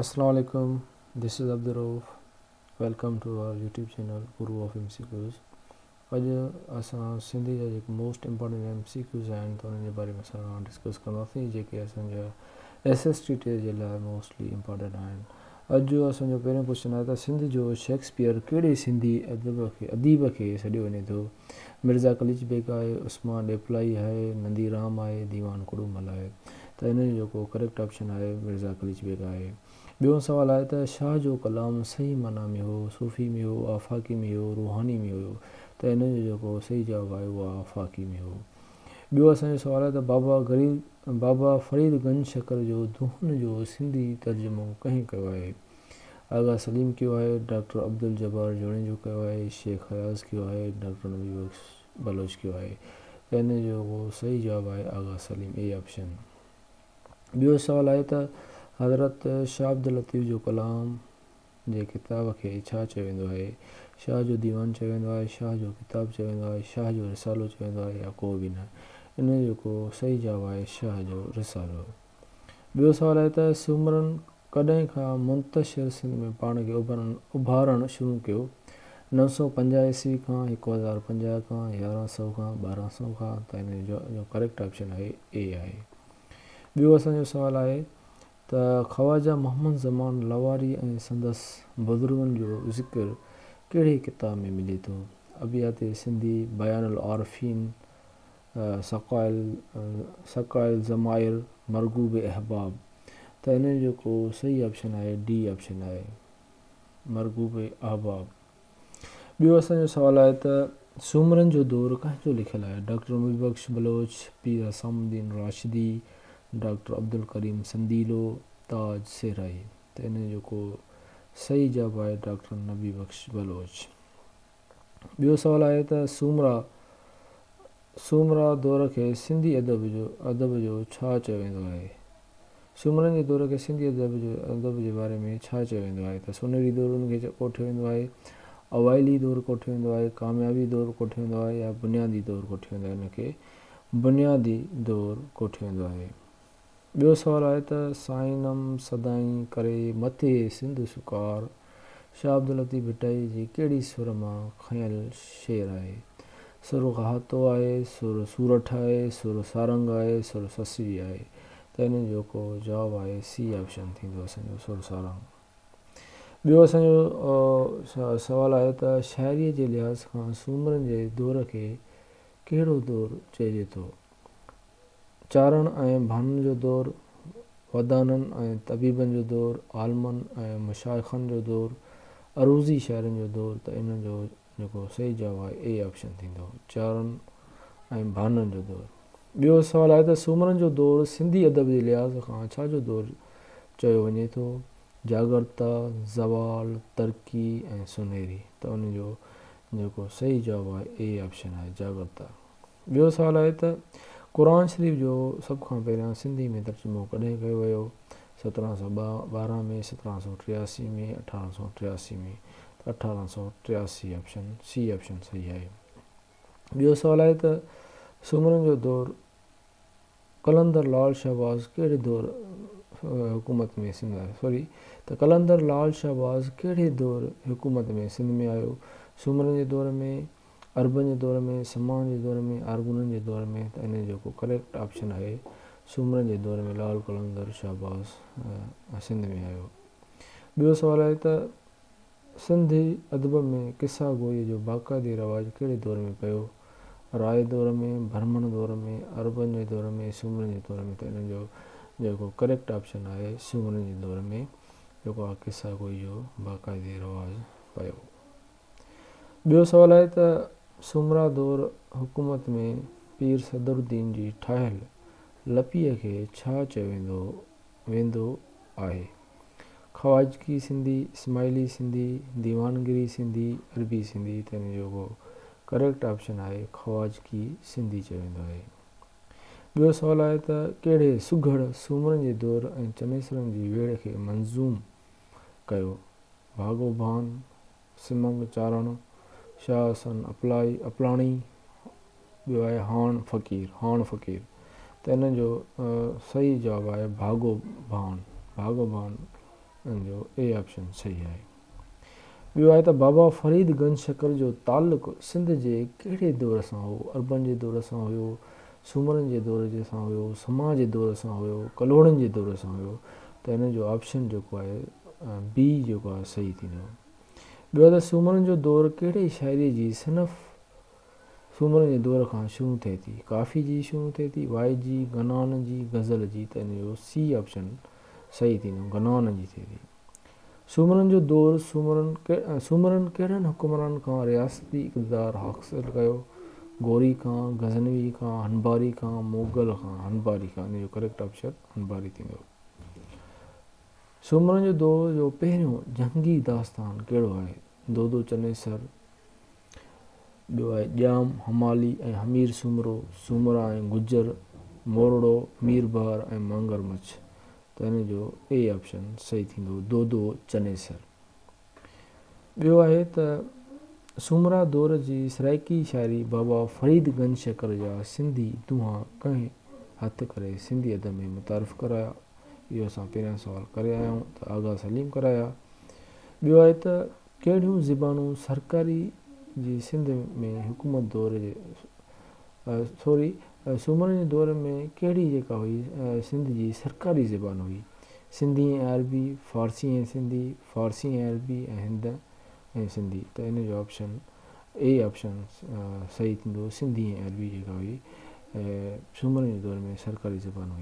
اسلام عليڪم this is Abdul Rauf welcome to our YouTube channel guru of M C Qs اڄ اسان سنڌي جا جيڪي most important M C Qs آهن ته انهن جي باري ۾ اسان ڊسڪس ڪنداسين جيڪي اسان جا ايس ايس ٽي ٽي جي لاء موسٽلي امپارٽنٽ آهن اڄ جو اسان جو پهريون ڪوشچن آهي ته سنڌ جو شيڪسپيئر ڪهڙي سنڌي ادب کي اديب کي سڏيو وڃي ٿو؟ مرزا قليچ بيگ آهي، عثمان ڏيپلائي آهي، نندي رام آهي، ديوان ڪڙومل آهي ته هن جو جيڪو ڪريڪٽ آپشن آهي مرزا قليچ بيگ آهي. ٻيون سوال آهي ته شاهه جو ڪلام صحيح معنيٰ ۾ هو، صوفي ۾ هو، آفاقي ۾ هو، روحاني ۾ هيو ته هن جو جيڪو صحيح جواب آهي اهو آفاقي ۾ هو. ٻيو اسان جو سوال آهي ته بابا غريب بابا فريد گنج شڪر جو دونهن جو سنڌي ترجمو ڪنهن ڪيو آهي؟ آغا سليم ڪيو آهي، ڊاڪٽر عبدالجبار جوڻيجو ڪيو آهي، شيخ اياز ڪيو آهي، ڊاڪٽر نبي بخش بلوچ ڪيو آهي ته ان جو ڪو صحيح جواب آهي آغا سليم اي آپشن. ٻيو سوال آهي ته حضرت شاهه عبداللطيف جو ڪلام. جي ڪتاب کي ڇا چيو ويندو آهي؟ شاهه جو ديوان چيو ويندو آهي، شاهه جو ڪتاب چيو ويندو آهي، شاهه جو رسالو چيو ويندو آهي يا ڪو به نه؟ ان جو ڪو صحيح جواب آهي شاهه جو رسالو. ٻيو سوال آهي ته سومرن ڪڏهن کان منتشر سنڌ ۾ پاڻ کي اڀارڻ شروع ڪيو؟ نو سؤ پنجاهه عيسوي کان، هڪ هزار پنجاهه کان، يارهن سؤ کان، ٻارهن سؤ کان؟ ته ان جو ڪريڪٽ آپشن آهي اي آهي. ٻيو اسان جو سوال آهي ته خواجه محمد زمان لواري ۽ سندس بزرگن جو ذڪر ڪهڙي ڪتاب ۾ ملي ٿو؟ ابيات سنڌي، بيان العارفين، سقايا الضمائر، مرغوب احباب ته انهن جو ڪو صحيح آپشن آهي، ڊي آپشن آهي مرغوب احباب. ٻيو اسان جو سوال آهي ته سومرن جو دور ڪنهن جو لکيل آهي؟ ڊاڪٽر مير بخش بلوچ، پير حسام الدين راشدي، ڊاڪٽر عبدالڪريم سنديلو، تاج صحرائي ته انهن جو ڪو صحيح جواب آهي ڊاڪٽر نبي بخش بلوچ. ٻيو سوال آهي ته سومرا. سومرا دور کي سنڌي ادب جو ادب جو ڇا چيو ويندو آهي؟ سومرن جي دور کي سنڌي ادب جو ادب جي باري ۾ ڇا چيو ويندو آهي ته سونهري دور ان کي ڪوٺيو ويندو آهي، اوائلي دور ڪوٺيو ويندو آهي، ڪاميابي دور ڪوٺيو ويندو آهي يا بنيادي دور ڪوٺيو ويندو آهي ان کي بنيادي دور ڪوٺيو ويندو آهي. ٻيو سوال آهي ته سائينم سدائين ڪري مٿي سنڌ شڪار شاهه عبداللطيف ڀٽائي جي ڪهڙي سر مان کنيل شعر آهي؟ سر گهاتو آهي، سر سورٺ آهي، سر سارنگ آهي، سر سسوي آهي ته ان جو ڪو جواب آهي سي آپشن ٿيندو اسان جو سر سارنگ. ٻيو اسان جو سوال آهي ته شاعريء جي لحاظ کان سومرن جي دور کي ڪهڙو دور چئجي ٿو؟ چارڻ ۽ ڀانن جو دور، ودانن ۽ طبيبن جو دور، عالمن ۽ مشائخن جو دور، عروضي شاعرن جو دور ته ان جو جيڪو صحيح جواب آهي اي آپشن ٿيندو چارڻ ۽ ڀانن جو دور. ٻيو سوال آهي ته سومرن جو دور سنڌي ادب جي لحاظ کان ڇا جو دور چيو وڃي ٿو، جاڳرتا، زوال، ترقي ۽ سونهري ته ان جو جيڪو صحيح جواب آهي اي آپشن آهي جاڳرتا. ٻيو سوال آهي ته قرآن شريف جو سڀ کان پهريان سنڌي ۾ ترجمو ڪڏهن ڪيو ويو؟ سترهن سؤ ٻارهن ۾، سترهن سؤ ٽياسي ۾، اٺارهن سؤ ٽياسي ۾ ته اٺارهن سؤ ٽياسي آپشن سي آپشن صحيح آهي. ٻيو سوال آهي ته سومرن جو دور قلندر لال شهباز ڪهڙي دور حڪومت ۾ سنڌ آيو سوري ته قلندر لال شهباز ڪهڙي دور حڪومت ۾ سنڌ ۾ آيو سومرن جي دور ۾ عربن جي دور ۾ سماڻ جي دور ۾ آرغونن جي دور ۾ ته انهن جو ڪو ڪريڪٽ آپشن آهي سومرن جي دور ۾ لاهور قلندر شهباز سنڌ ۾ آيو ٻيو سوال آهي ته سنڌي ادب ۾ قصه گوئي جو باقاعدي رواج ڪهڙي دور ۾ پيو راء دور ۾ برهمڻ دور ۾ عربن جي دور ۾ سومرن جي دور ۾ ته انهن جو جيڪو ڪريڪٽ آپشن آهي سومرن جي دور ۾ جيڪو آهي قصه گوئي جو باقاعدي رواج پيو. ٻيو سوال آهي ته سومرا دور حڪومت ۾ پير صدرالدين جي ٺاهيل لپيء کي ڇا چيو ويندو ويندو آهي؟ خواجگي سنڌي، اسماعيلي سنڌي، ديوانگري سنڌي، عربي سنڌي ته ان جو ڪو ڪريڪٽ آپشن آهي خواجگي سنڌي چيو ويندو آهي. ٻيو سوال آهي ته ڪهڙي سگهڙ سومرن جي دور ۽ چنيسرن جي ويڙهه کي منظوم ڪيو؟ ڀاڳو ڀان، سمنگ چارڻ، شاهه حسن اپلائي، اپلاڻي، ٻيو آهي هاڻ فقير، هاڻ فقير، ته انهن جو صحيح جواب آهي ڀاڳو ڀان، ڀاڳو ڀان، ان جو اي آپشن صحيح آهي. ٻيو آهي ته بابا فريد گنج شڪر جو تعلق سنڌ جي ڪهڙي دور سان هو؟ عربن جي دور سان هيو، سومرن جي دور جي سان هيو، سما جي دور سان هيو، ڪلهوڙن جي دور سان هيو ته هن جو آپشن جيڪو آهي بي جيڪو آهي صحيح ٿيندو. ٻيو ته سومرن جو دور ڪهڙي شاعري جي صنف سومرن جي دور کان شروع ٿئي ٿي ڪافي جي شروع ٿئي ٿي وائي جي، گنان جي، غزل جي ته هن جو سي آپشن صحيح ٿيندو گنان جي ٿئي ٿي. سومرن جو دور، سومرن ڪهڙن حڪمرانن کان رياستي اقتدار حاصل ڪيو، غوري کان، غزنوي کان، هنباري کان، موغل کان، هنباري کان، سومرن جو دور جو پهريون جهنگي داستان ڪهڙو آهي، دودو چنيسر، ٻيو آهي ڄام، همالي ۽ همير سومرو، سومرا ۽ گجر، مورڙو، ميربحر ۽ مانگر مڇ، ته ان جو اي آپشن صحيح ٿيندو، دودو چنيسر. ٻيو آهي ته سومرا دور جي سرائيڪي شاعري بابا فريد گنج شڪر جا سنڌي دونها ڪنهن هٿ ڪري سنڌي ادب ۾ متعارف ڪرايا؟ اهو اسان پهريان سوال ڪري آيا آهيون ته آغا سليم ڪرايا. ٻيو آهي ته ڪهڙيون زبانون سرڪاري جي سنڌ ۾ حڪومت دور جي سوري سومرن جي دور ۾ ڪهڙي جيڪا هئي سنڌ جي سرڪاري زبان هئي. سنڌي ۽ عربي، فارسي ۽ سنڌي، فارسي ۽ عربي ۽ هند ۽ سنڌي ته ان جو آپشن اي آپشن صحيح ٿيندو سنڌي ۽ عربي جيڪا هئي سومرن جي دور ۾ سرڪاري زبان هئي.